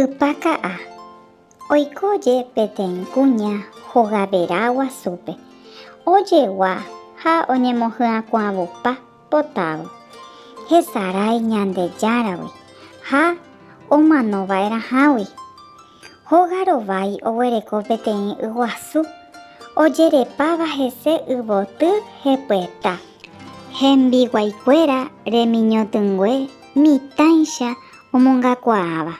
Ypaka'a, oiko je peteĩ kuña hogavera guasúpe, ojegua ha oñemohyakuãvupa potávo, hesarái Ñandejáragui ha omanova'erãhágui. Hóga rovái oguereko peteĩ yguasu, ojerepáva hese yvoty hepyeta. Hembiguaikuéra remiñotỹngue mitãicha omongakuaáva.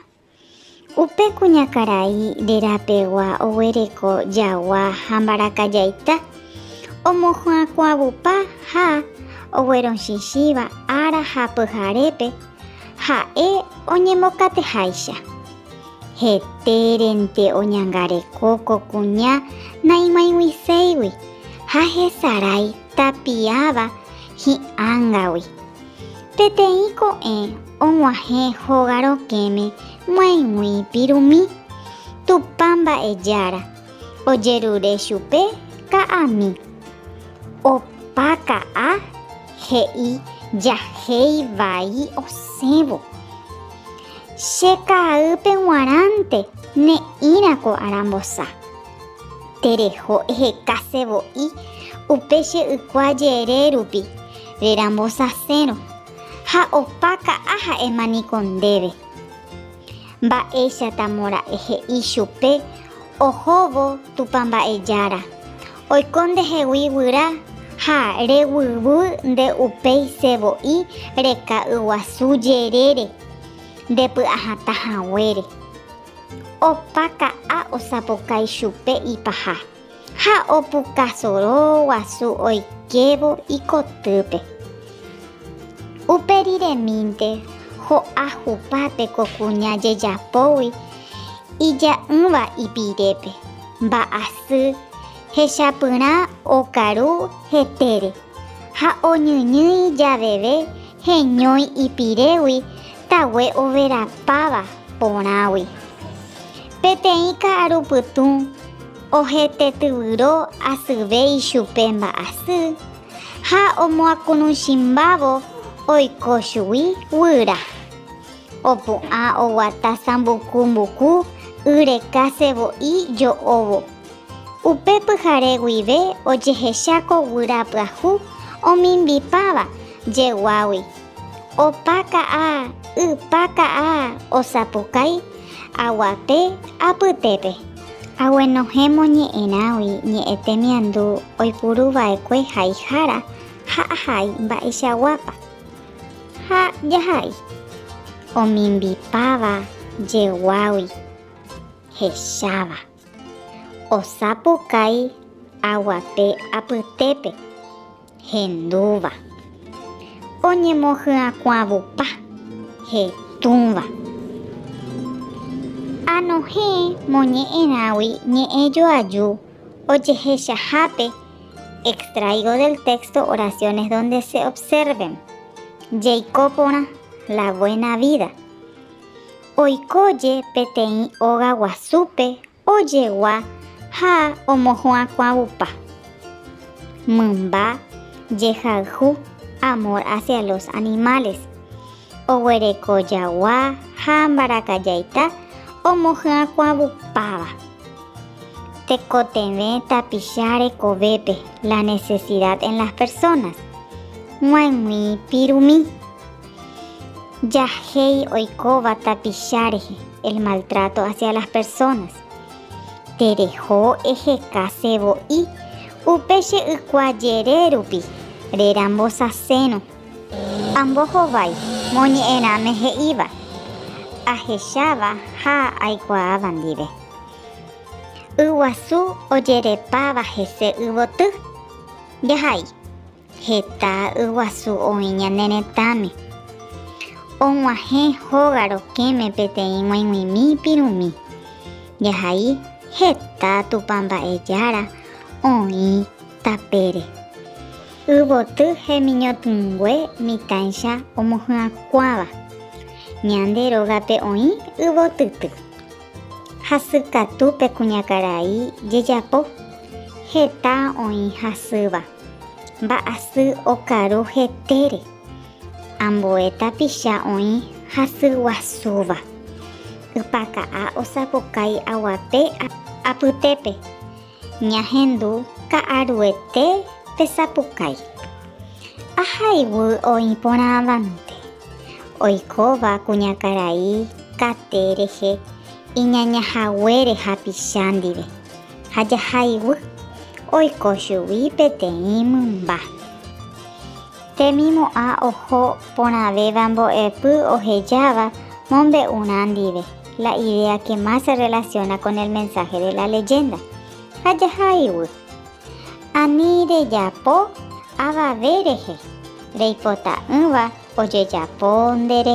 Upe kuñakarai rerapegua oguereko jagua ha mbarakajaita, omohyakuãvupa ha oguerochichĩva ára ha pyharépe, ha'e oñembokateháicha. Hetérente oñangareko ko kuña naimoĩguiséigui ha hesarái tapiáva hi'ángagui. Peteĩ ko'ẽ og̃uahẽ hóga rokẽme moaĩgui pirumi, Tupã Mba'ejára, ojerure chupe ka'ami. Opa ka'a he'i jahéi vai osẽvo. Che kaa'ýpe g̃uarãnte ne'ĩrã ko arambosa. Tereho ehekase voi upe che ykua jere rupi, rerambosasérõ, ha opa ka'a ha'éma niko ndéve. Mba'éichatamo ra'e he'i chupe ohóvo Tupã Mba'ejára, oiko ndehegui guyra ha reguývy nde upéice voi reka'yguasu jerére, ndepy'ahatã haguére. Opa ka'a osapokái chupe ipaha ha opuka soro guasu oikévo ikotýpe. Upe riremínte ho'a hupápe ko kuña jejapógui ija'ỹva ipirépe, mba'asy hechapyrã okaru hetére ha oñyñýi javeve heñói ipirégui Tague overapáva porãgui. Peteĩ ka'aru pytũ ohetetyvyro asyve ichupe mba'asy ha omoakunuchimbávo oiko chugui guyra. Opu'ã oguata sambuku mbuku y reka sevo'i jo'óvo. Upe pyhare guive ojehecháko guyra pyahu omimbipáva jeguágui. Opa ka'a, ypa ka'a osapukái aguape apytépe. Aguenohẽ moñe'ẽrãgui ñe'ẽ temiandu oipuru vaekue haihára ha ahai mba'eichaguápa. Ha jahai omimbipáva jeguágui hecháva, osapukái aguape apytépe. hendúva, oñemohyakuãvupa, hetũva. Anohẽ moñe'ẽrãgui ñe'ẽ joaju ojehechahápe Extraigo del texto Oraciones donde se observen, Jeiko porã, La Buena Vida. Oikóje peteĩ óga guasúpe Ojegua ha omohu'ãkuãvupa. Mymba jehayhu amor hacia los animales. Oguereko jagua ha ambarakajaita omohy'ãkuãvupáva. Tekotevẽ tapicha rekovépe la necesidad en las personas. G̃uaig̃ui pirumi. Jahéi oikóva tapicha rehe. El maltrato hacia las personas. Tereho ehekase vo'i upe che ykua jere rupi, rerambosaséno. Ambohovái moñe'ẽrãme he'íva, ahecháva ha aikuaáva ndive. Yguasu ojerepáva hese yvoty. Jahai. Heta yguasu oĩ ñane retãme. Og̃uahẽ hóga rokẽme peteĩ g̃uaig̃uimi pirũmi. Jahai heta Tupã mba'e Jára oĩ tapére. Yvoty hemiñotỹngue mitãicha omohyakuãva. Ñande rógape oĩ yvotyty. Hasykatu pe kuñakarai jejapo. Heta oĩ hasýva. Mba'asy okaru hetére. Ambue tapicha oĩ hasy guasúva. Ypaka'a osapukái aguape apytépe. Ñahendu ka'aruete pesapukái. Aha iguy oĩ porãvante. Oikóva kuñakarai kate rehe iñañahaguére hapicha ndive. Ha jahaiguy oiko chugui peteĩ mymba. Temimo'ã oho porãvéva mbo'epy ohejáva mombe'urã ndive, la idea que más se relaciona con el mensaje de la leyenda. Ha jahaiguy. Ani rejapo avave rehe reipota'ỹva ojejapo nde.